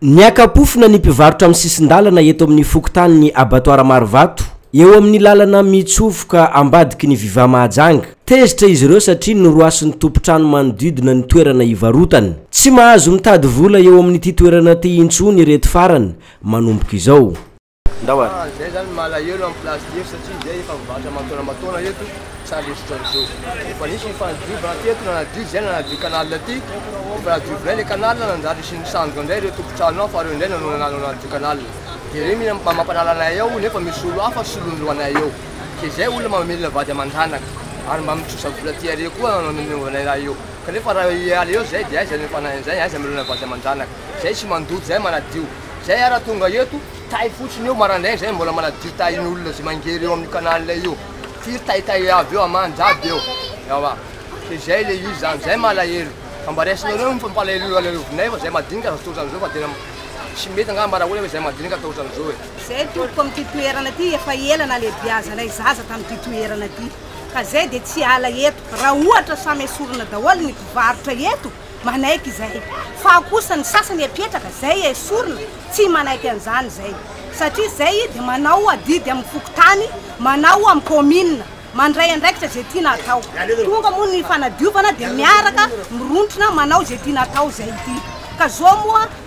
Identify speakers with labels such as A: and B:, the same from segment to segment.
A: Niaka-pofona ny mpivarotra amin'ny sisin-dalana eto amin'ny fokontanin'ny Abattoir Marovato, eo amin'ny lalana mitsofoka ambadiky ny Viva Mahajanga. Tezitra izy ireo satria noroasin'ny tompon-trano manodidina ny toerana ivarotany. Tsy mahazo mitady vola eo amin'ity toerana ity intsony ireto farany, manomboka izao. Ndao ary. Ah,
B: zay zany malahelo amin'ny place teto satria zay efa mivarotra aman-taona aman-taona eto, sa le otrany zao. Efa nisy ny fanadiovana teto, nanadio zay nanadio canal ty, efa nadio vilay le canal, nanjary hisian'ny sandoka ndray reo tompon-trano ao fa reo ndray no nanadio canal. De reo mila mampanala anay ao nefa misy olo hafa solon'ny lohanay eo. Ke zay olona mamelona vady aman-janaka, ary mba mitrosa vola ty are koa no nanaovanay raha io. Kanefa raha hiala eo zay de aiza ny fanahin'izay, aiza amelona vady aman-janaka. Zay tsy mandoto, zay manadio. Zay ara tonga eto tay fotsiny eo marandraigny zay mbola manadio tay ny olona zay mangery eo amin'ny canal io firy tay tay avy eo aman jiaby eo ewa ke zay le izy zany zay malahelo fa mba raisinareo ny fampalahelo alaleovinay fa zay madinika aza tsy otran'izao fa tena tsy mety angamba mba rahoana hoe zay madinika atao otran'izao e zay tompoko amin'ity
C: toerana ty efa ela nalebiazanay zaza tamin'ity toerana ty ka zay de tsy hiala eto raha ohatra samy esorina daholo ny mpivarotra eto manaiky izay fa ao kosa ny sasany apetraka zay esorina tsy manaiky an'izany zay satria zay dia manao adidy amin'ny fokontany manao amin'ny commune mandray andraikitra zay tiana atao tonga moa ny fanadiovana dia miaraka mirontrona manao zay tiana atao zay ity ka zao moa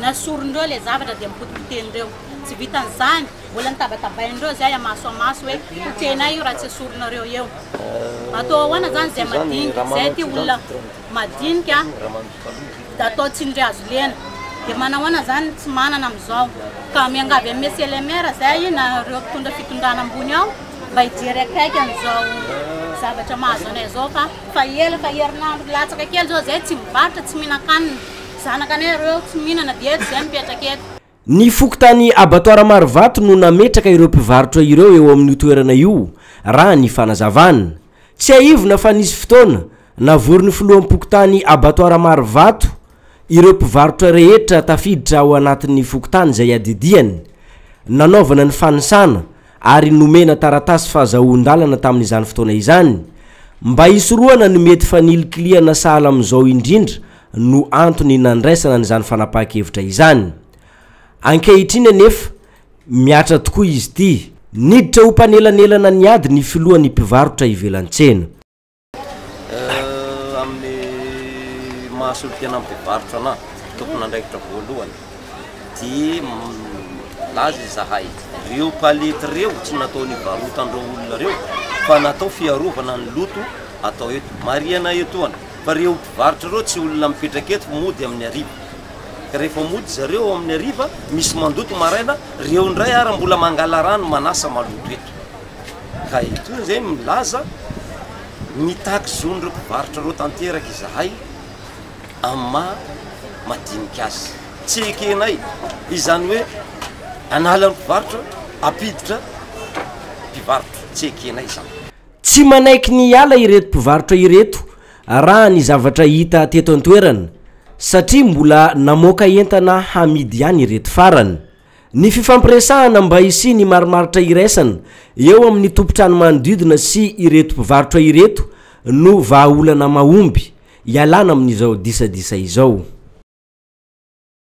D: Na sorin'ireo ilay zavatra dia mipotipotehin'ireo. Tsy vitan'izany, mbola notabatabain'ireo izay amaso amaso hoe potehinay io raha tsy esorinareo eo. Atao ahoana izany izay madinika, izay ity olona madinika dia atao tsindry hazo lena. Dia manahoana izany ny tsy manana amin'izao. Ka miangavy an'i Mesia le Maire izay na ireo mpitondra fitondrana ambony ao mba hijery akaiky an'izao zavatra mahazo anay izao fa. Fa ela fa herinandro latsaka kely izao izahay tsy mivarotra, tsy mihinan-kanina. Zanaka anay ireo eo tsy mihinana dia eto izay mipetraka eto. Ny fokontany
A: Abattoir Marovato no nametraka ireo mpivarotra ireo eo amin'io toerana io, raha ny fanazavana. Tsiahivina fa nisy fotoana, navorin'ny filoham-pokontany Abattoir Marovato ireo mpivarotra rehetra tafiditra ao anatin'ny fokontany izay adidiany, nanaovana ny fanisana, ary nomena taratasy fahazahoan-dalana tamin'izany fotoana izany, mba hisorohana ny mety fanilikilihana sahala amin'izao indrindra no antony nandraisana an'izany fanapahan-kevitra izany. Ankehitriny anefa, mihatra tokoa izy ity. Niditra ho mpanelanelana ny ady ny filohan'ny mpivarotra ivelan-tsena.
E: Amin'ny maha solontena mpivarotra anà, tompon'andraikitra voalohany, dia milaza izahay, ireo palette ireo tsy natao nivarotan'ireo olona ireo fa natao fiarovana ny loto atao eto. Marihana etoana fa ireo mpivarotra ireo tsy olona mipetraka eto, mody amin'ny hariva. Ka rehefa mody zareo ao amin'ny hariva, misy mandoto maraina, ireo indray ary mbola mangala rano manasa maloto eto. Ka eto indray milaza, mitaky zon'ireo mpivarotra ireo tanteraka izahay amin'ny maha madinika azy. Tsy ekenay izany hoe hanala ny mpivarotra hampiditra mpivarotra, tsy ekenay izany. Tsy manaiky
A: ny hiala ireto mpivarotra ireto raha ny zavatra hita teto an-toerana satria mbola namoaka entana hamidy ihany ireto farany. Ny fifampiresahana mba hisian'ny marimaritra iraisana eo amin'ny tompon-trano manodidina sy ireto mpivarotra ireto no vahaolana mahomby hialana amin'izao disadisa izao.